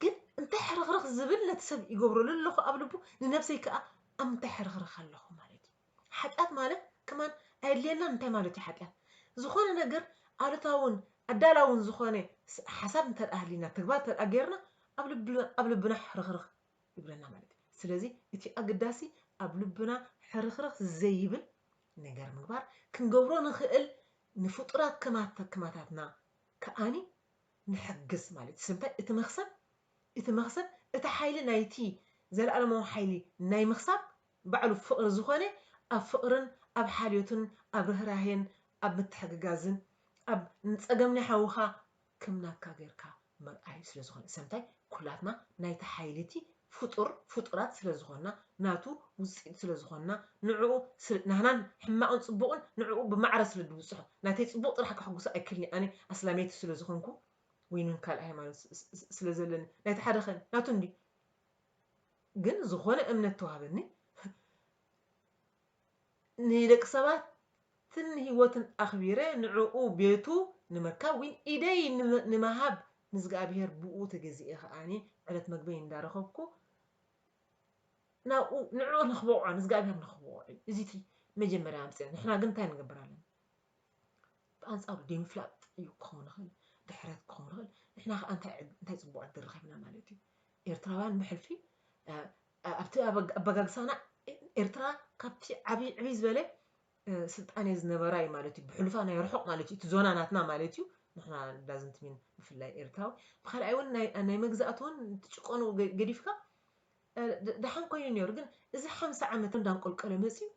Speaker 1: ግን እንታይ ሕርኽርኽ ዝብል ነቲ ሰብ ይገብረሉ ኣለኹ ኣብ ልቡ ንነብሰይ ከዓ ኣብ ምንታይ ሕርኽርኽ ኣለኹ ማለት እዩ ሓጢኣት ማለት ከማን ኣየድልየናን እንታይ ማለት እዩ ሓጢኣት ዝኾነ ነገር ኣሉታውን ኣዳላውን ዝኾነ ሓሳብ እንተደኣ ሃሊና ተግባር እንተደኣ ጌርና ኣብ ልብና ሕርኽርኽ ይብለና ማለት እዩ። ስለዚ እቲ ኣገዳሲ ኣብ ልብና ሕርኽርኽ ዘይብል ነገር ምግባር ክንገብሮ ንኽእል ንፍጡራት ከማታትና ከኣኒ ንሕግዝ ማለት እዩ። ስለምንታይ እቲ መኽሰብ እቲ መኽሰብ እቲ ሓይሊ ናይቲ ዘለኣለማዊ ሓይሊ ናይ ምኽሳብ ባዕሉ ፍቕሪ ዝኾነ ኣብ ፍቕርን ኣብ ሓልዮትን ኣብ ርህራሄን ኣብ ምትሕግጋዝን ኣብ ንጸገም ናይ ሓውኻ ክም ናትካ ገርካ ምርኣዩ ስለ ዝኮነ ሰምታይ ኩላትና ናይቲ ሓይሊ እቲ ፍጡር ፍጡራት ስለ ዝኮና ናቱ ውጽኢት ስለ ዝኮና ንዕኡ ስለ ናህናን ሕማቅን ጽቡቅን ንዕኡ ብማዕረ ስለ ድብጽሖ ናተይ ጽቡቅ ጥራሕ ከሕጉሳ ኣይክልን'የ ኣነ ኣስላመይቲ ስለ ዝኮንኩ ወይንም ካልእ ሃይማኖት ስለ ዘለኒ ናይቲ ሓደ ከ ናቱ እንድዩ ግን ዝኮነ እምነት ተዋህበኒ ንደቂ ሰባት ን ህይወትን ኣኽቢረ ንዕኡ ቤቱ ንምርካብ ዊን ኢደይ ንመሃብ ንዝግኣብሄር ብኡ ተገዚኤ ከኣ ዕለት መግበይ እንዳረኸብኩ ናብኡ ንዕኡ ንኽበቕዖ ንዝግኣብሄር ንኽበቕዖ እዩ እዚቲ መጀመርያ ኣምጽ ንሕና ግን እንታይ ንገብር ኣለና ብኣንጻሩ ደይምፍላጥ እዩ ክኸውን ንኽእል ድሕረት ክኸውን ንኽእል ንሕና ከኣ እንታይ እንታይ ጽቡቕ ዕድል ረኺብና ማለት እዩ ኤርትራውያን ብሕልፊ ኣብቲ ኣበጋግሳና ኤርትራ ካብቲ ዓብይ ዕብይ ዝበለ ስልጣኔ ዝነበራ እዩ ማለት እዩ ብሕሉፋ ናይ ርሑቕ ማለት እዩ እቲ ዞና ናትና ማለት እዩ ንሕና ዳዝንት ሚን ብፍላይ ኤርትራዊ ብካልኣይ እውን ናይ መግዛእቲ እውን ትጭቆኑ ገዲፍካ ደሓን ኮይኑ ነይሩ ግን እዚ ሓምሳ ዓመት እንዳንቆልቀለ መፅዩ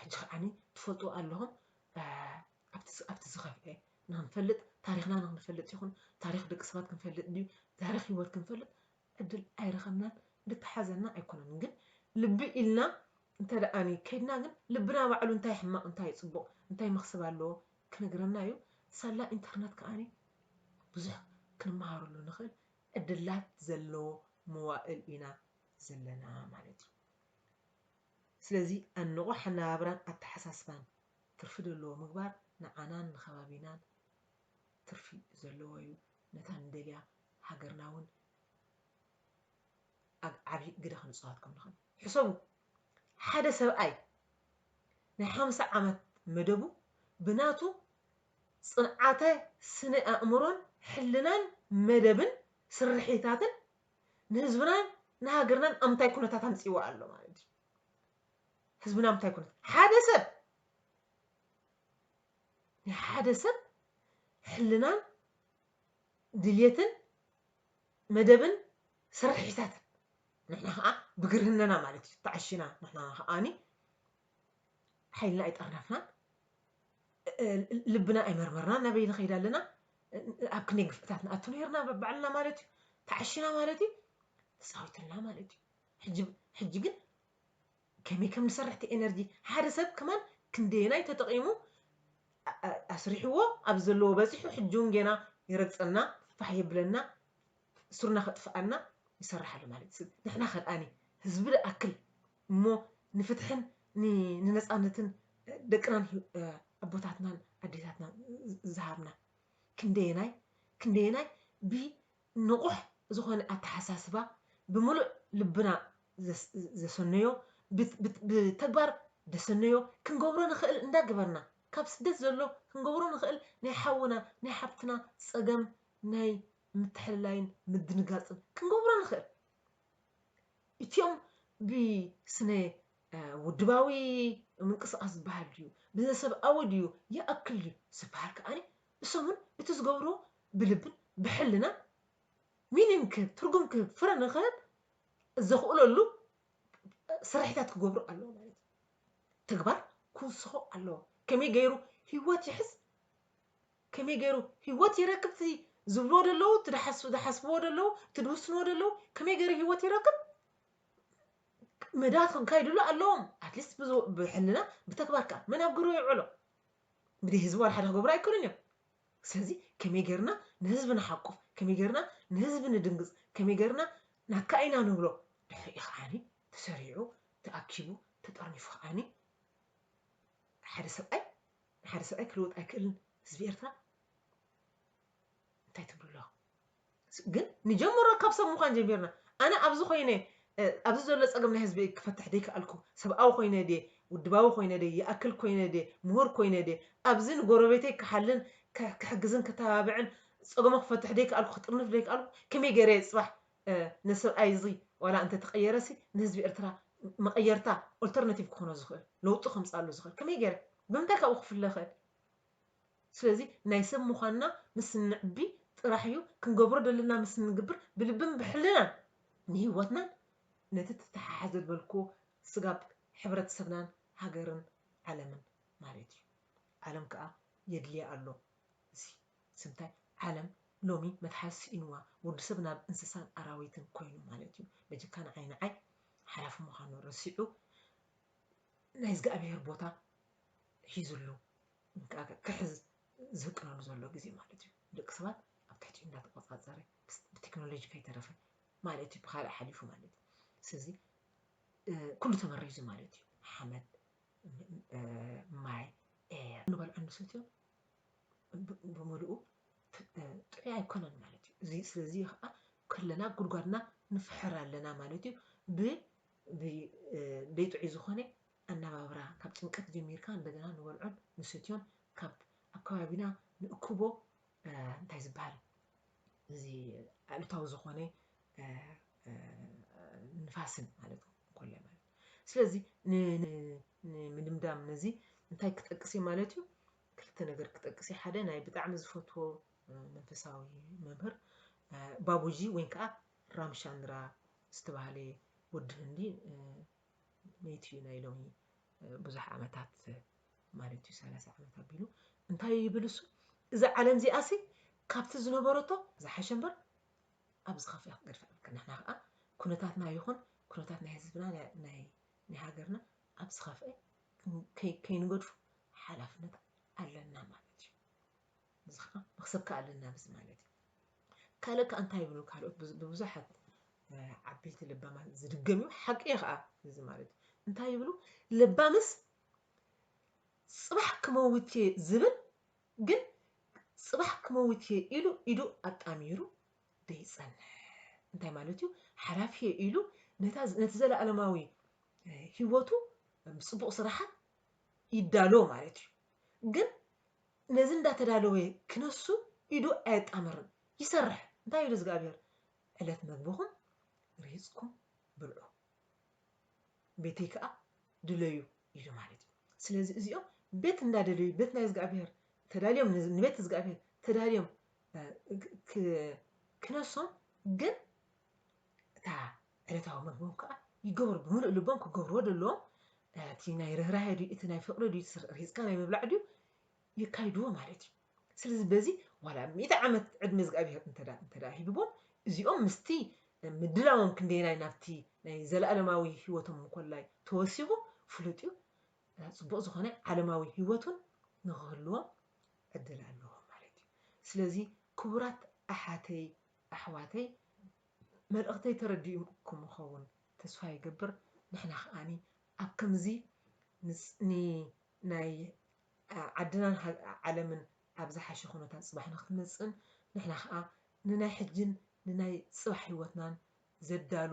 Speaker 1: ሕጂ ከዓኒ ትፈልጡ ኣለኹም ኣብቲ ዝኸፍኤ ንክንፈልጥ ታሪክና ንክንፈልጥ ይኹን ታሪክ ደቂ ሰባት ክንፈልጥ ድዩ ታሪክ ሂወት ክንፈልጥ ዕድል ኣይረኸብናን እንተተሓዘና ኣይኮነን ግን ልቢ ኢልና እንተደኣኒ ከይድና ግን ልብና ባዕሉ እንታይ ሕማቕ እንታይ ጽቡቕ እንታይ መኽስብ ኣለዎ ክነግረና እዩ ሳላ ኢንተርነት ከኣ ብዙሕ ክንመሃረሉ ንኽእል ዕድላት ዘለዎ መዋእል ኢና ዘለና ማለት እዩ ስለዚ ኣብ ንቑሕ ኣነባብራን ኣተሓሳስባን ትርፊ ዘለዎ ምግባር ንዓናን ንከባቢናን ትርፊ ዘለዎ እዩ ነታ ንደልያ ሃገርና እውን ኣብ ዓቢ ግደ ክንጽዋት ከም ንኽእል ሕሰቡ። ሓደ ሰብኣይ ናይ ሓምሳ ዓመት መደቡ ብናቱ ጽንዓተ ስነ ኣእምሮን ሕልናን መደብን ስርሒታትን ንህዝብናን ንሃገርናን ኣብ ምንታይ ኩነታት ኣምጺእዋ ኣሎ ማለት እዩ። ህዝብና ኣብ ምንታይ ኩነታት ሓደ ሰብ ናይ ሓደ ሰብ ሕልናን ድልየትን መደብን ስርሒታትን ንሕና ከኣ ብግርህነና ማለት እዩ ተዓሺና ንሕና ከኣኒ ሓይልና ኣይጠርነፍናን ልብና ኣይመርመርናን ናበይ ንኸይድ ኣለና ኣብ ክንደይ ግፍዕታት ንኣቱ ነርና በባዕልና ማለት እዩ ተዓሽና ማለት እዩ ተፃዊትልና ማለት እዩ ሕጂ ግን ከመይ ከም ንሰርሕ እቲ ኤነርጂ ሓደ ሰብ ከማን ክንደየናይ ተጠቂሙ ኣስሪሕዎ ኣብዚ ዘለዎ በጺሑ ሕጂ ውን ጌና ይረግጸና ፋሕ የብለና ሱርና ከጥፍኣና ይሰርሕ ኣሎ ማለት እዩ ንሕና ከ ድኣኒ ህዝቢ ድኣክል እሞ ንፍትሕን ንነጻነትን ደቅናን ኣቦታትናን ኣዴታትናን ዝሃብና ክንደየናይ ክንደየናይ ብ ንቑሕ ዝኾነ ኣተሓሳስባ ብምሉእ ልብና ዘሰነዮ ብተግባር ደሰነዮ ክንገብሮ ንኽእል እንዳገበርና ካብ ስደት ዘሎ ክንገብሮ ንኽእል ናይ ሓውና ናይ ሓብትና ጸገም ናይ ምትሕልላይን ምድንጋጽን ክንገብሮ ንኽእል እቲኦም ብስነ ውድባዊ ምንቅስቓስ ዝበሃል ድዩ ብዘሰብኣዊ ድዩ ይኣክል ድዩ ዝበሃል ከኣ እሶምን እቲ ዝገብሮ ብልብን ብሕልናን ሚኒን ክህብ፣ ትርጉም ክህብ፣ ፍረ ንክህብ ዘኽእለሉ ስርሒታት ክገብሩ ኣለዎ ማለት እዩ። ተግባር ክውስኾ ኣለዎ። ከመይ ገይሩ ህይወት ይሕዝ፣ ከመይ ገይሩ ህይወት ይረክብ፣ እቲ ዝብልዎ ደለዉ፣ እቲ ዝሓስብዎ ደለዉ፣ እቲ ዝውስንዎ ደለዉ፣ ከመይ ገይሩ ህይወት ይረክብ መዳት ክንካይድሉ ኣለዎም ኣትሊስት ብሕልና ብተግባር ከዓ መን ኣብ ግብሪ ይውዕሎ ብደይ ህዝቢ ዋላ ሓደ ክገብሩ ኣይክእሉን እዮም ስለዚ ከመይ ጌርና ንህዝቢ ንሓቁፍ፣ ከመይ ጌርና ንህዝቢ ንድንግጽ፣ ከመይ ጌርና ናትካ ኢና ንብሎ ድሕሪኡ ከዓኒ ተሰሪዑ፣ ተኣኪቡ፣ ተጠርኒፉ ከዓኒ ሓደ ሰብኣይ ንሓደ ሰብኣይ ክልውጥ ኣይክእልን ህዝቢ ኤርትራ እንታይ ትብሉ ኣለኹም? ግን ንጀምሮ ካብ ሰብ ምዃን ጀሚርና ኣነ ኣብዚ ኮይነ ኣብዚ ዘሎ ጸገም ናይ ህዝቢ ክፈትሕ ደይከኣልኩ ሰብኣዊ ኮይነ ድየ ውድባዊ ኮይነ ድየ ይኣክል ኮይነ ድየ ምሁር ኮይነ ድየ ኣብዚ ንጎረቤተይ ክሓልን ክሕግዝን ክተባብዕን ጸገሙ ክፈትሕ ደይከኣልኩ ክጥርንፍ ደይከኣልኩ ከመይ ገይረ እየ ጽባሕ ነሰብኣይ እዚ ዋላ እንተ ተቐየረሲ ንህዝቢ ኤርትራ መቐየርታ ኦልተርናቲቭ ክኾኖ ዝኽእል ለውጢ ከምጽኣሉ ዝኽእል ከመይ ገይረ ብምንታይ ካብኡ ክፍለ ይኽእል ስለዚ ናይ ሰብ ምዃንና ምስ እነዕቢ ጥራሕ እዩ ክንገብሮ ደለና ምስ እንግብር ብልብን ብሕልናን ንህይወትናን ነቲ ተተሓሓዘ ዝበልክዎ ስጋብ ሕብረተሰብናን ሃገርን ዓለምን ማለት እዩ። ዓለም ከኣ የድልያ ኣሎ እዚ ስምታይ ዓለም ሎሚ መትሓዚ ስኢንዋ ወዲ ሰብ ናብ እንስሳን ኣራዊትን ኮይኑ ማለት እዩ በጀካ ንዓይ ንዓይ ሓላፊ ምዃኑ ረሲዑ ናይ እዝግኣብሄር ቦታ ሒዙሉ እንቃዕ ክሕዝ ዝህቅነሉ ዘሎ ግዜ ማለት እዩ። ንደቂ ሰባት ኣብ ትሕቲኡ እንዳተቆጻጸረ ብቴክኖሎጂ ከይተረፈ ማለት እዩ ብካልእ ሓሊፉ ማለት እዩ። ስለዚ ኩሉ ተመሪዙ ማለት እዩ ሓመድ ማይ ኤየር ንበልዖ ንሰትዮ ብምልኡ ጥዑይ ኣይኮነን ማለት እዩ። እዚ ስለዚ ከዓ ከለና ጉድጓድና ንፍሕር ኣለና ማለት እዩ። ብዘይጥዑይ ዝኾነ ኣነባብራ ካብ ጭንቀት ጀሚርካ እንደገና ንበልዖን ንሰትዮን ካብ ኣብ ከባቢና ንእክቦ እንታይ ዝበሃል እዚ ኣሉታዊ ዝኾነ ንፋስን ማለት ኮለ ማለት ስለዚ ንምድምዳም ነዚ እንታይ ክጠቅስ እዩ ማለት እዩ ክልተ ነገር ክጠቅስ እዩ ሓደ ናይ ብጣዕሚ ዝፈትዎ መንፈሳዊ መምህር ባቡጂ ወይ ከዓ ራምሻንድራ ዝተባሃለ ወዲ ህንዲ ኔት እዩ ናይ ሎሚ ብዙሕ ዓመታት ማለት እዩ ሰላሳ ዓመት ኣቢሉ እንታይ እዩ ይብል እሱ እዚ ዓለም እዚኣ ሲ ካብቲ ዝነበረቶ ዝሓሸ እምበር ኣብ ዝኸፍያ ክገድፋ ይብል ንሕና ከዓ ኩነታትና ይኹን ኩነታት ናይ ህዝብና ናይ ሃገርና ኣብ ዝኸፍአ ከይንገድፉ ሓላፍነት ኣለና ማለት እዩ እዚ ከዓ ብክሰካ ኣለና ብዚ ማለት እዩ ካልእ ከዓ እንታይ ይብሉ ካልኦት ብብዙሓት ዓበይቲ ለባማት ዝድገም እዩ ሓቂ እዩ ከዓ እዚ ማለት እዩ እንታይ ይብሉ ለባምስ ፅባሕ ክመውት እየ ዝብል ግን ፅባሕ ክመውት እየ ኢሉ ኢዱ ኣጣሚሩ ደይፀንሕ እንታይ ማለት እዩ ሓላፊ እየ ኢሉ ነቲ ዘለኣለማዊ ህይወቱ ፅቡቕ ስራሓት ይዳሎ ማለት እዩ ግን ነዚ እንዳተዳለወ ክነሱ ኢዱ ኣየጣምርን ይሰርሕ እንታይ ኢሉ እዝግኣብሄር ዕለት መግብኹም ሪህጽኩም ብልዑ ቤተይ ከኣ ድለዩ ኢሉ ማለት እዩ ስለዚ እዚኦም ቤት እንዳደለዩ ቤት ናይ እዝግኣብሄር ተዳልዮም ንቤት እዝግኣብሄር ተዳልዮም ክነሶም ግን እታ ዕለታዊ መግቦም ከኣ ይገብሩ ብምሉእ ልቦም ክገብርዎ ደለዎም እቲ ናይ ርህራሄ ድዩ እቲ ናይ ፍቅሪ ድዩ ርሂጽካ ናይ ምብላዕ ድዩ የካይድዎ ማለት እዩ ስለዚ በዚ ዋላ ሚእቲ ዓመት ዕድመ እግዚኣብሄር እንተዳ እንተዳ ሂብዎም እዚኦም ምስቲ ምድላዎም ክንደየናይ ናብቲ ናይ ዘለኣለማዊ ህይወቶም እንኮላይ ተወሲኹ ፍሉጥ እዩ ጽቡቕ ዝኾነ ዓለማዊ ህይወቱን ንኽህልዎም ዕድል ኣለዎም ማለት እዩ ስለዚ ክቡራት ኣሓተይ ኣሕዋተይ መልእኽተይ ተረዲኡኩም ይኸውን ተስፋ ይገብር ንሕና ከኣ ኣብ ከምዚ ንናይ ዓድናን ዓለምን ኣብ ዝሓሸ ኩነታት ጽባሕ ንክትመጽእን ንሕና ከኣ ንናይ ሕጅን ንናይ ጽባሕ ሂወትናን ዘዳሉ